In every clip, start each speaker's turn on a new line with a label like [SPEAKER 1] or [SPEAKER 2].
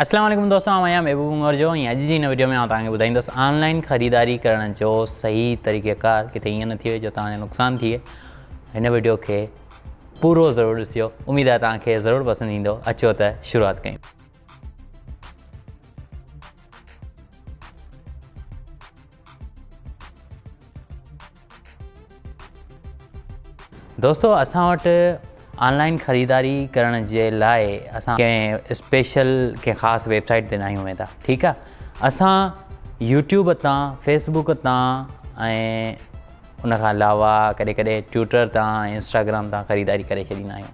[SPEAKER 1] اسلام عليڪم دوستو آئون آهيان محبوب انگور جو ۽ اڄ جي هن وڊيو ۾ آئون توهان کي ٻڌائيندس آن لائن خريداري ڪرڻ جو صحيح طريقه ڪار ڪٿي ائين نه ٿئي جو توهان جو نقصان ٿئي هن وڊيو کي پورو ضرور ڏسجو اميد آهي توهان کي ضرور پسند ايندو اچو ته شروعات ڪيون دوستو اسان وٽ آنلائن خريداري ڪرڻ جي لاء اسان ڪنهن اسپيشل ڪنهن خاص ويب سائيٽ تي ناهيون ويندا ٺيڪ آ اسان يوٽيوب تان فيسبوڪ تان ۽ ان کان علاوه ڪڏهن ڪڏهن ٽويٽر تان انسٽاگرام تان خريداري ڪري ڇڏيندا آهيون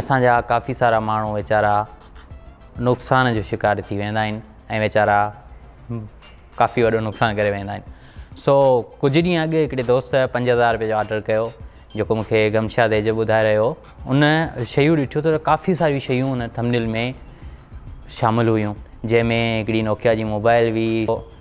[SPEAKER 1] اسان جا ڪافي سارا ماڻهو ويچارا نقصان جو شڪار ٿي ويندا آهن ۽ ويچارا ڪافي وڏو نقصان ڪري ويندا آهن سو ڪجهه ڏينهن اڳ هڪڙي دوست پنج هزار روپيه جو آرڊر ڪيو جيڪو مونکي گمشاد ايجو ٻڌائي رهيو ان شيون ڏٺو ته ڪافي ساريون شيون ان ٿمنيل ۾ شامل هيون جنهن ۾ هڪڙي نوڪيا جي موبائل هئي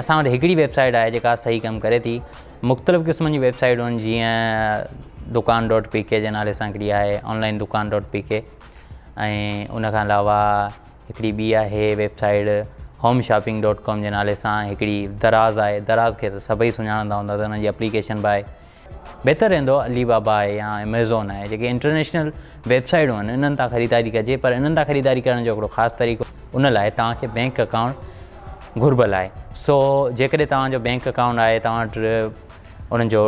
[SPEAKER 1] اسان وٽ هڪڙي ويب سائيٽ آهي جيڪا صحيح ڪم ڪري ٿي مختلف قسمن جون ويب سائيٽون جيئن دڪان ڊاٽ پي ڪي جي نالي سان هڪڙي آهي آنلائن دڪان ڊاٽ پي ڪي ۽ ان کان علاوه هڪڙي ٻي آهي web site home shopping dot com جي نالي سان هڪڙي دراز آهي دراز کي سڀئي سڃاڻندا هوندا ته هن جي اپليڪيشن به آهي بهتر رهندو علي بابا آهي يا ايميزون آهي جيڪي انٽرنيشنل ويب سائيٽون آهن انهن تان خريداري ڪجي پر انهن تان خريداري ڪرڻ جو هڪڙو خاص طريقو ان لاء توهان کي بينڪ اڪائونٽ گهربل آهي سو جيڪڏهن توهان جو بينڪ اڪائونٽ آهي توهان وٽ انهن جو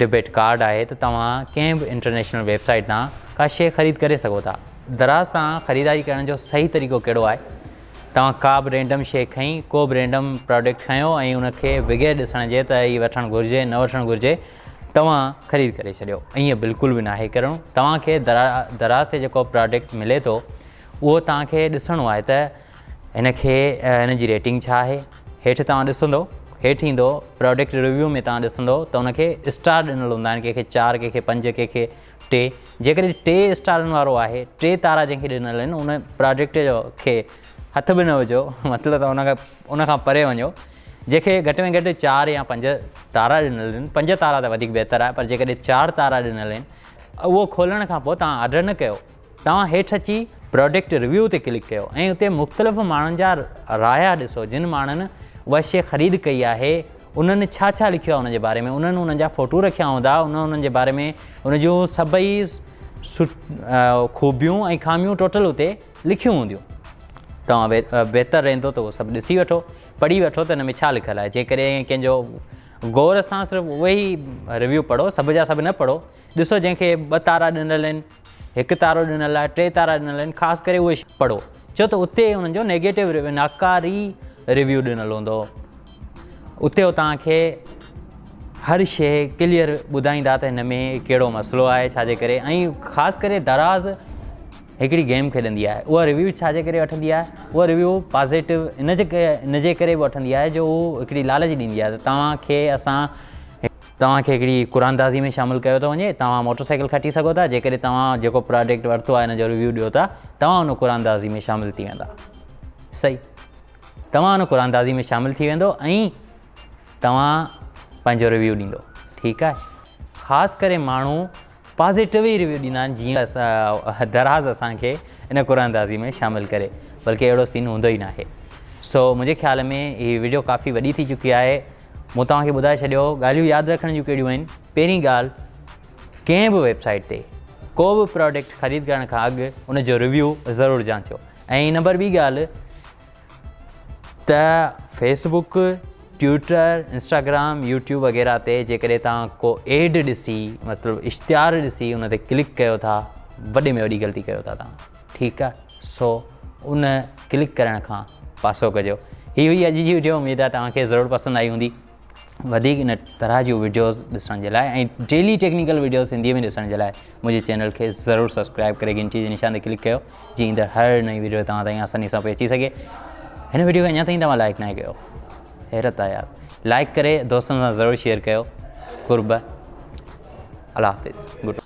[SPEAKER 1] ڊبيٽ ڪارڊ آهي ته توهان ڪنهن به انٽرنيشنل ويب سائيٽ تان ڪا شيء خريد ڪري سگهو ٿا دراز سان خريداري ڪرڻ جو صحيح طريقو ڪهڙو آهي توهان ڪا به رينڊم شيء کنئي، ڪو به رينڊم پراڊڪٽ کنيو ۽ ان کي بغير ڏسڻ جي ته هي وٺڻ گهرجي نه وٺڻ گهرجي توهان خريد ڪري ڇڏيو. ائين بلڪل به ناهي ڪرڻو. توهان کي دراز تي جيڪو پراڊڪٽ ملي ٿو اهو توهان کي ڏسڻو آهي ته هن کي هن جي ريٽنگ ڇا آهي. هيٺ توهان ڏسندو هيٺ ايندو پراڊڪٽ ريويو ۾ توهان ڏسندو ته ان کي اسٽار ڏنل هوندا آهن ڪنهن کي چار ڪنهن کي پنج ڪنهن کي ٽي، جيڪڏهن ٽي اسٽارن وارو آهي، ٽي تارا جنهن کي ڏنل آهن، ان پراجيڪٽ جو کي هٿ به نه وجهو، مطلب ته ان کان ان کان پري وڃو، جنهن کي گهٽ ۾ گهٽ چار يا پنج تارا ڏنل آهن، پنج تارا ته وڌيڪ بهتر آهي، پر جيڪڏهن چار تارا ڏنل آهن، اهو کولڻ کان پوء توهان آرڊر نه ڪيو، توهان هيٺ اچي پراڊڪٽ ريويو تي ڪلڪ ڪيو ۽ اتي مختلف ماڻهن جا رايا ڏسو جن ماڻهن اها شيء خريد ڪئي آهي انهن ڇا ڇا لکيو آهي ان جي باري ۾ انهن انهن جا فوٽو رکيا هوندا انهن انهن جي باري ۾ ان جون سڀئي خوبيون ۽ خاميون ٽوٽل اتي لکيون هونديون توهان بهتر رهندو ته اهو سڀ ڏسي وٺو پڙهي وٺو ته ان ۾ ڇا لکيل آهي جيڪڏهن ڪنهن جو غور سان صرف اهي ئي ريويو پڙهو سڀ جا سڀ نه پڙهو ڏسو جنهن کي ٻه تارا ڏنل آهن هڪ تارو ڏنل آهي ٽي تارا ڏنل آهن خاص ڪري اهي پڙهو ڇو ته اتي انهن جو نيگيٽو ريويو ناڪاري ريويو ڏنل هوندو اتي هو توهان کي هر شي ڪليئر ٻڌائيندا ته هن ۾ کيڙو مسئلو آهي ڇا جي ڪري ۽ خاص ڪري دراز هڪڙي گيم کيڏندي آهي اها ريويو ڇا جي ڪري وٺندي آهي اها ريويو پازيٽو ان جي ان جي ڪري به وٺندي آهي جو هو هڪڙي لالچ ڏيندي آهي ته توهان کي اسان توهان کي هڪڙي قراندازي ۾ شامل ڪيو ٿو وڃي، توهان موٽر سائيڪل کٽي سگهو ٿا جيڪڏهن توهان جيڪو پراڊڪٽ ورتو آهي ان جو ريويو ڏيو ٿا، توهان ان قراندازي ۾ شامل ٿي ويندا. صحيح. توهان ان قراندازي ۾ شامل ٿي ويندو ۽ توهان پنهنجو ريويو ڏيندو. ٺيڪ آهي. خاص ڪري ماڻهو پازيٽو ئي ريويو ڏيندا آهن جيئن ته دراز اسان کي ان قرآن اندازي ۾ شامل ڪري بلڪه اهڙو سين هوندو ئي ناهي سو منهنجي خيال ۾ هي وڊيو ڪافي وڏي ٿي چڪي آهي مون توهان کي ٻڌائي ڇڏيو ڳالهيون ياد رکڻ جون ڪهڙيون آهن پهرين ڳالهه ڪنهن به ويب سائيٽ تي ڪو به پروڊڪٽ خريد ڪرڻ کان اڳ ان جو ريويو ضرور جانچو ۽ نمبر ٻي ڳالهه ته Facebook Twitter Instagram YouTube وغيره تي جيڪڏهن توهان ڪو ايڊ ڏسي مطلب اشتهار ڏسي ان تي ڪلڪ ڪيو ٿا وڏي ۾ وڏي غلطي ڪيو ٿا توهان ٺيڪ آهي سو ان ڪلڪ ڪرڻ کان پاسو ڪجو هي هئي اڄ جي ويڊيو اميد آهي توهان کي ضرور پسند آئي هوندي وڌيڪ ان طرح جون ويڊيوز ڏسڻ جي لاء ۽ ڊيلي ٽيڪنيڪل ويڊيوز سنڌي ۾ ڏسڻ جي لاء منهنجي چينل کي ضرور سبسڪرائب ڪري گھنٽي جي نشان تي ڪلڪ ڪيو جيئن ايندڙ هر نئين ويڊيو توهان تائين آساني سان پئي اچي سگھي هن ويڊيو کي اڃا تائين توهان لائڪ ناهي ڪيو حيرت آهي يار لائڪ ڪري دوستن سان ضرور شيئر ڪيو قرب الله حافظ گڊ